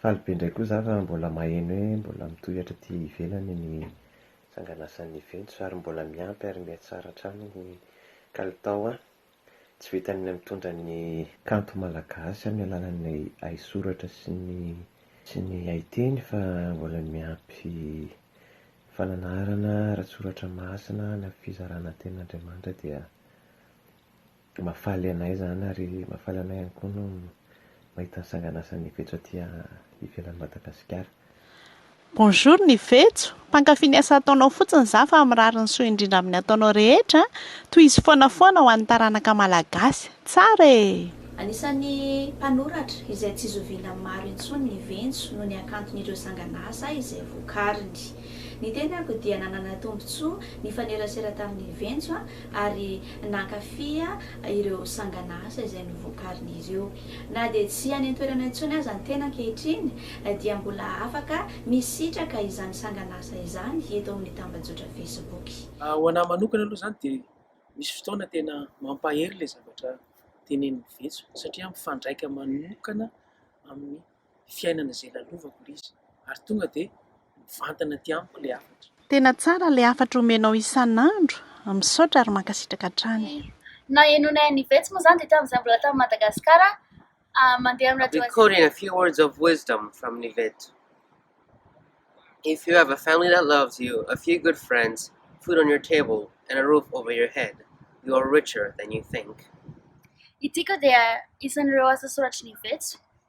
Faly be indray koa za fa mbola maheno hoe mbola mitohy hatraty ivelany ny sanganasan'ny Juventus ary mbola miampy ary miha tsara hatrany ny kalitao an! Tsy vitan'ny ny mitondra ny kanto malagasy amin'ny alalan'ny haisoratra sy ny sy ny haiteny fa mbola miampy fananarana ara-tsoratra masina na fizarana tenin'Andriamanitra dia Mahafaly anay izany ary mahafaly anay ihany koa no mahita ny sanganasa ny vetso aty ivelan'i Madagasikara. Bonjour ny vetso, mpankafy ny asa ataonao fotsiny za fa mirary ny soa indrindra amin'ny ataonao rehetra, tohizo foana foana ho an'ny taranaka malagasy, tsara e! Anisan'ny mpanoratra izay tsy zoviana maro intsony ny Ventso noho ny hakanton'ireo sanganasa izay vokariny. Ny tenako dia nanana tombontsoa nifanerasera tamin'ny Ventso ary nankafy ireo sanganasa izay novokarin'izy io. Na dia tsy any an-toerana intsony aza ny tena ankehitriny, dia mbola afaka misitraka izany sanganasa izany eto amin'ny tambajotra Facebook. Ho an'ahy manokana aloha izany dia misy fotoana tena mampahery ilay zavatra tenenin'i Vetso satria mifandraika manokana amin'ny fiainana izay lalovako ry izy ary tonga dia mivantana aty amiko ilay hafatra. Tena tsara ilay hafatra omenao isan'andro, misaotra ary mankasitraka hatrany. Nahenoanay an'i Yvette moa izany dia tamin'izahay mbola tany Madagasikara mandeha amin'ny radio Azia. Recording a few words of wisdom from Yvette If you have a family that loves you, a few good friends, food on your table and a roof over your head, you are richer than you think. Ity koa dia isan'ireo asa soratry ny Yvette.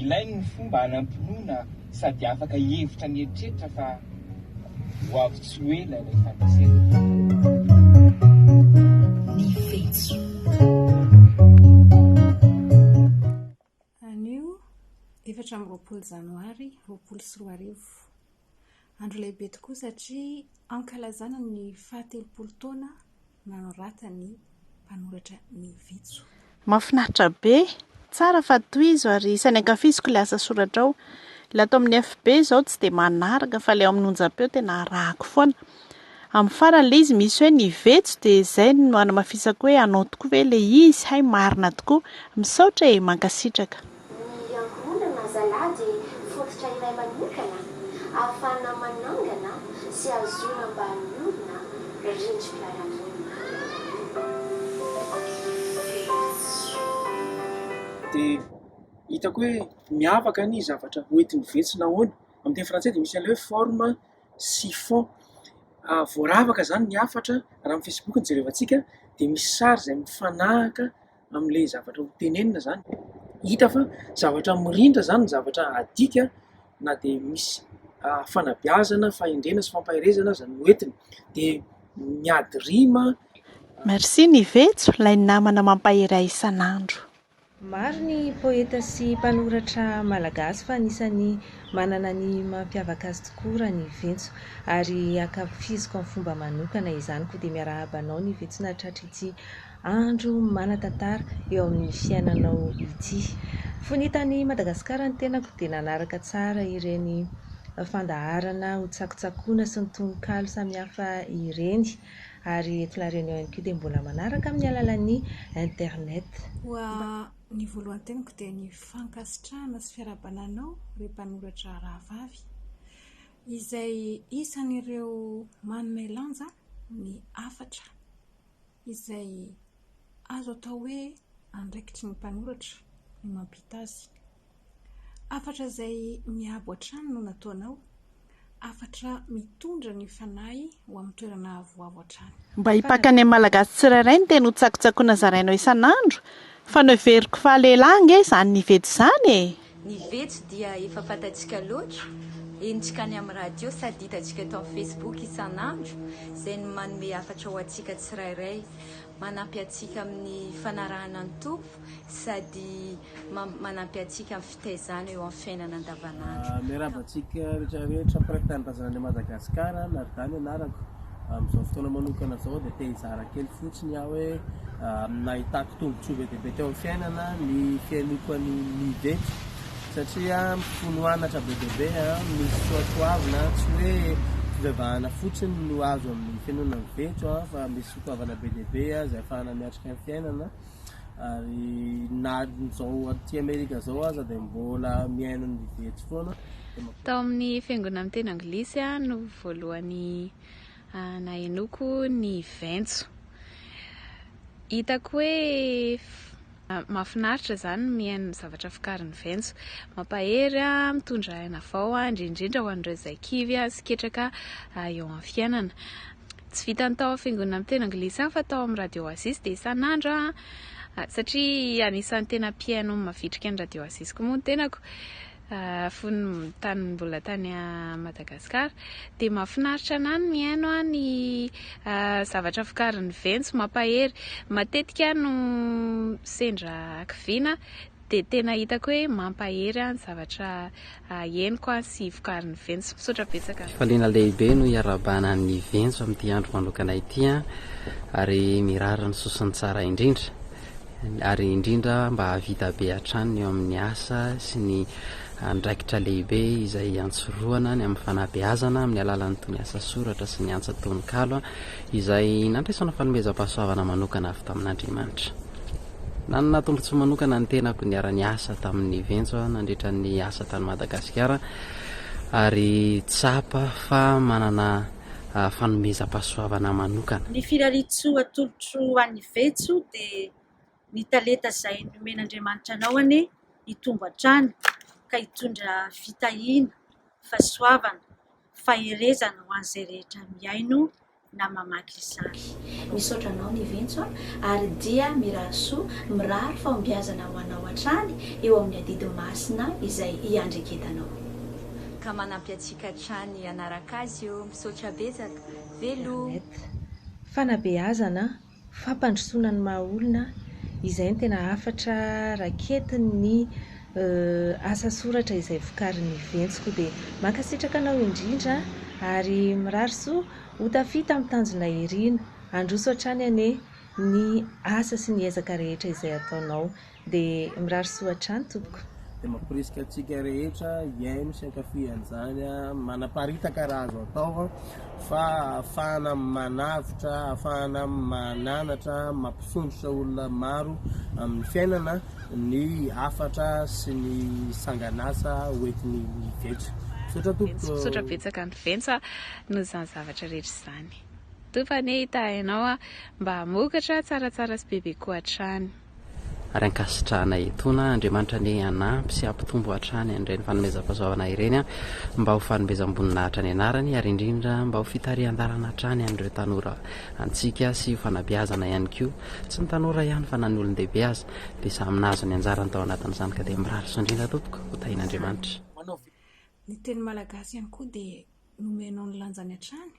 Ilainy ny fomba hanam-pinoana sady afaka hihevitra mieritreritra fa ho avy tsy ho ela ilay fandresena. Andro lehibe tokoa satria ankalazana ny fahatelopolo taona nanoratan'ny mpanoratra ny Vitso. Mahafinaritra be! Tsara fa tohizo ary isan'ny ankafiziko ilay asa soratrao. Ilay ato amin'ny FB izao tsy dia manaraka fa ilay ao amin'ny onjam-peo tena arahako foana. Amin'ny farany ilay izy misy hoe ny vetso dia izay no hanamafisako hoe anao tokoa ve ilay izy? hay marina tokoa! Misaotra e! Mankasitraka. Ny ankohonana zalahy dia fototra iray manokana ahafahana manangana sy hahazoana mba miorina rindrim-piarahamonina. Dia hitako hoe miavaka ny zavatra hoentiny vetsy na ahoana. Amin'ny teny frantsay dia misy an'ilay hoe forme sy fond. Voaravaka izany ny hafatra, raha amin'ny Facebook no jerevantsika, dia misy sary izay mifanahaka. amin'ilay zavatra ho tenenina zany, hita fa zavatra mirindra zany ny zavatra adika na dia misy fanabeazana, fahendrena sy fampaherezana aza no entiny dia miady rima. Merci Nivetso, ilay namana mampahery ahy isan'andro. Maro ny poeta sy mpanoratra malagasy fa anisan'ny manana ny mampiavaka azy tokoa Raniventso ary ankafiziko amin'ny fomba manokana izany koa dia miarahaba anao Nivetso nahatratra ity Andro manan-tantara eo amin'ny fiainanao ity. Fony tany Madagasikara ny tenako dia nanaraka tsara ireny fandaharana ho tsakotsakoina sy ny tononkalo samihafa ireny ary eto La Réunion ihany koa dia mbola manaraka amin'ny alalan'ny internet. Koa ny voalohan-teniko dia ny fankasitrahana sy fiarahabana anao ry mpanoratra rahavavy izay isan'ireo manome lanja ny hafatra. izay azo atao hoe andraikitry ny mpanoratra ny mampita azy. Hafatra izay miabo hatrany no nataonao, hafatra mitondra ny fanahy ho amin'ny toerana avoavo hatrany. Mba hipakan'ny amin'ny Malagasy tsirairay ny teny hotsakotsakoina zarainao isan'andro, fa noheveriko fa lehilahy ange izany nivedo izany e! Ny vetsy dia efa fantatsika loatra, henontsika any amin'ny radio sady hitantsika eto amin'ny Facebook isan'andro izay no manome hafatra ho antsika tsirairay. Manampy antsika amin'ny fanarahana ny Tompo sady manampy antsika amin'ny fitaizana eo amin'ny fiainana andavan'andro. Miarahaba antsika rehetra rehetra mpiraiki-tanindrazana any Madagasikara, Nadà ny anarako. Amin'izao fotoana manokana izao dia te-hizara kely fotsiny aho hoe nahitako tombontsoa be dia be teo amin'ny fiainana ny fihainoako an'i Mide satria mifono anatra be dia be, misy soatoavina tsy hoe fivavahana fotsiny no azo amin'ny fihainoana ny vetso fa misy soatoavana be dia be izay ahafahana miatrika ny fiainana. ary na amin'izao aty Amerika izao aza dia mbola mihaino ny Vitsy foana. Tao amin'ny fiangonan'ny teny anglisy aho no voalohany ah, nahenoko ny Ventso. Hitako hoe ah, mahafinaritra izany ny mihaino ny zavatra vokarin'ny Ventso. Mampahery ah, mitondra aina vao ah, indrindrindra ho an'ireo izay kivy ah, sy ketraka ah, eo amin'ny fiainana. tsy vitan'ny tao amin'ny fiangonana miteny anglisy ihany fa tao amin'ny radio oasis dia isan'andro aho ah, satria anisan'ny tena mpihaino ny mavitrika ny radio oasis koa moa ny tenako ah, fony tany mbola tany ah, madagasikara dia mahafinaritra anah ny mihaino ah, ny ah, zavatra vokarin'ny ventsy mampahery matetika aho no sendra hakiviana Dia tena hitako hoe mampahery ahy ny zavatra henoko sy vokarin'ny Ventsy. Misaotra betsaka. Fifaliana lehibe no iarahabana an'ny Ventsy amin'ity andro manokana ity an! Ary mirary ny sosony tsara indrindra! Ary indrindra mba hahavita be hatrany ny eo amin'ny asa sy ny andraikitra lehibe izay iantsorohana ny amin'ny fanabeazana amin'ny alalan'itony asa soratra sy ny antsa tononkalo izay nandraisana fanomezam-pahasoavana manokana avy tamin'Andriamanitra. Nanana tombontsoa manokana ny tenako niara-niasa tamin'i Ventso nandritra ny asa tany Madagasikara ary tsapa fa manana fanomezam-pahasoavana manokana. Ny firariantsoa atolotro ho an'i Ventso dia Ny talenta izay nomen'Andriamanitra anao anie hitombo hatrany ka hitondra fitahiana, fahasoavana, faherezana ho an'izay rehetra mihaino. na mamaky izany. Misaotra anao Niventso a! ary dia mirary soa, mirary fahombiazana ho anao hatrany eo amin'ny adidy masina izay iandreketanao. Ka manampy antsika hatrany hanaraka azy eo, misaotra betsaka. Veloma. Internet. Fanabeazana fampandrosoana ny maha olona, izay no tena hafatra raketiny ny asa soratra izay vokarin'ny Ventsiko. Dia mankasitraka anao indrindra ary mirary soa ho tafita amin'ny tanjonay irina. Handroso hatrany anie ny asa sy ny ezaka rehetra izay ataonao. dia mirary soa hatrany tompoko. Dia mamporisika antsika rehetra hihaino sy hankafy an'izany an, manaparitaka raha azo atao an, fa ahafahana manavotra, ahafahana mananatra, mampisondrotra olona maro amin'ny fiainana ny hafatra sy ny sangan'asa hoentin'i Venca. Misaotra tompoko. Misaotra betsaka an'i Venca noho izany zavatra rehetra izany. Tompo anie hitahy anao an, mba hamokatra tsaratsara sy bebe koa hatrany. ary ankasitrahana etoana Andriamanitra anie hanampy sy hampitombo hatrany an'ireny fanomezam-pahasoavana ireny mba ho fanomezam-boninahitra ny anarany ary indrindra mba ho fitarihan-dalana hatrany an'ireo tanora antsika sy ho fanabeazana ihany koa tsy ny tanora ihany fa na ny olon-dehibe aza dia samy nahazo ny anjarany tao anatin'izany ka dia mirary soa indrindra tompoko ho tahian'Andriamanitra ny teny malagasy ihany koa dia nomenao ny lanjany hatrany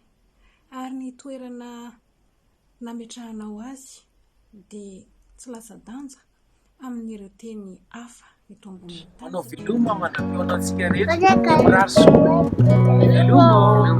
ary ny toerana nametrahanao azy dia tsy latsa-danja amin'ireo teny hafa eto ambonin'ny tany. Manao veloma mandra-pihaona antsika rehetra. Mirary soa. Veloma.